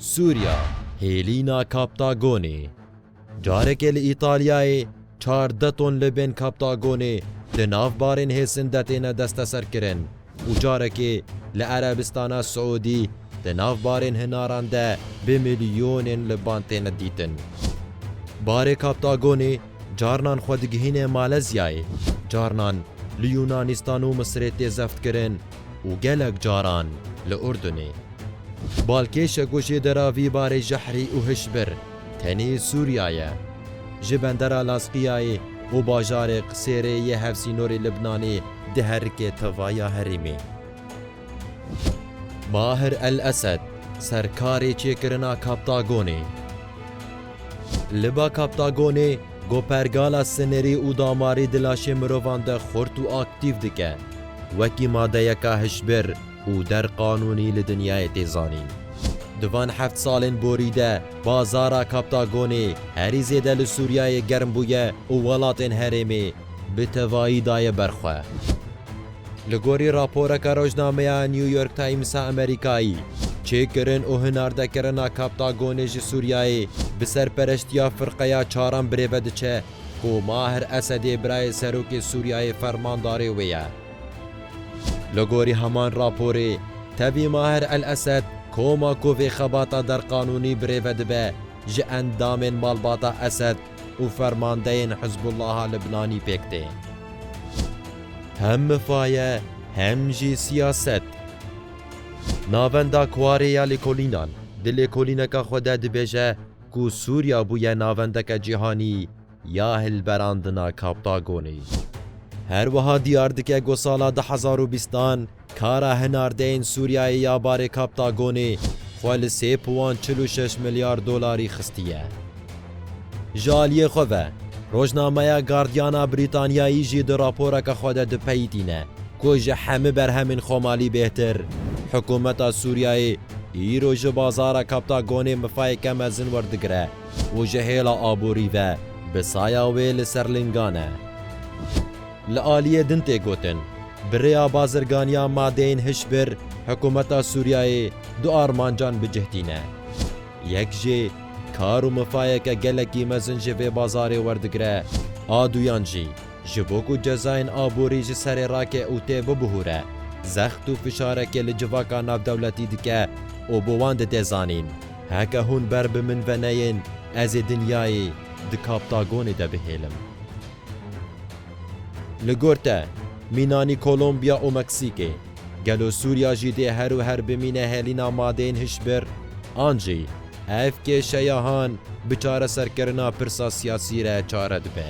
Sûriya, Hêlîna Kaptagonê Careke li Îtalyayê çardeh ton li bên kaptagonê di nav barên hêsin de têne desteserkirin û carekê li Erebistana Siûdî di nav barên hinaran de bi milyonên li ban têne dîtin. Barê kaptagonê Carinan xwe digihîne Malezyayê, carinan li Yûnanîstan û Misirê tê zeftkirin û gelek caran li Urdunê. Balkêşe ku jê dera vî barê jehrî û hişbir tenê Sûriya ye. Ji bendera Lazqiyayê û bajarê Qisêrê yê hevsînorê Libnanê diherike tevaya herêmê. Mahir El Esed, serkarê çêkirina Kaptagonê. Li ba Kaptagonê, ku pergala sinerî û damarî di laşê mirovan de xurt û aktîf dike, wekî madeyeka hişbir û der qanûnî li dinyayê tê zanîn. Di van heft salên borî de bazara Kaptagonê herî zêde li Sûriyeyê germ bûye û welatên herêmê bi tevayî daye ber xwe. Li gorî raporeke rojnameya New York Times a Amerîkayî, çêkirin û hinardekirina Kaptagonê ji Sûriyeyê bi serpereştiya Firqeya Çaran bi rê ve diçe ku Maher Esedê birayê Serokê Sûriyeyê fermandarê wê ye. Li gorî heman raporê, tevî Maher El Esed koma ku vê xebata derqanûnî bi rê ve dibe ji endamên malbata Esed, û fermandeyên Hizbûllaha Libnanî pêk tên. Hem mifaye hem jî siyaset. Navenda Kwarê ya Lêkolînan di lêkolîneka xwe de dibêje ku Sûriya bûye navendeke cîhanî ya hilberandina Kaptagonê. Her wiha diyar dike ku sala du hezar û bîstan Kara hinardeyên Sûriyeyê ya barê Kaptagonê xwe li sê puan çil û şeş milyar dolarî xistiye. Ji aliyê xwe ve, rojnameya Guardiana Brîtanyayî jî di raporeke xwe de dipeyitîne ku ji hemû berhemên Xomalî bêhtir, hikûmeta Sûriyeyê îro ji bazara Kaptagonê mifayeke mezin werdigire û ji hêla aborî ve bi saya wê li ser lingan e. Li aliyê din tê gotin, bi rêya bazirganiya madeyên hişbir hikûmeta Sûriyeyê du armancan bi cih tîne. Yek jî kar û mifayeke gelekî mezin ji vê bazarê werdigire, a duyan jî ji bo ku cezayên aborî ji serê rake û tê bibihûre, zext û fişarekê li civaka navdewletî dike û bo wan dide zanîn, Heke hûn ber bi min ve neyên, ez ê dinyayê di kaptagonê de bihêlim. Li gor te, mînanî Kolombiya û Meksîkê, gelo Sûriya jî dê her û her bimîne hêlîna madeyên hişbir an jî ev kêşeya han bi çareserkirina pirsa siyasî re çare dibe?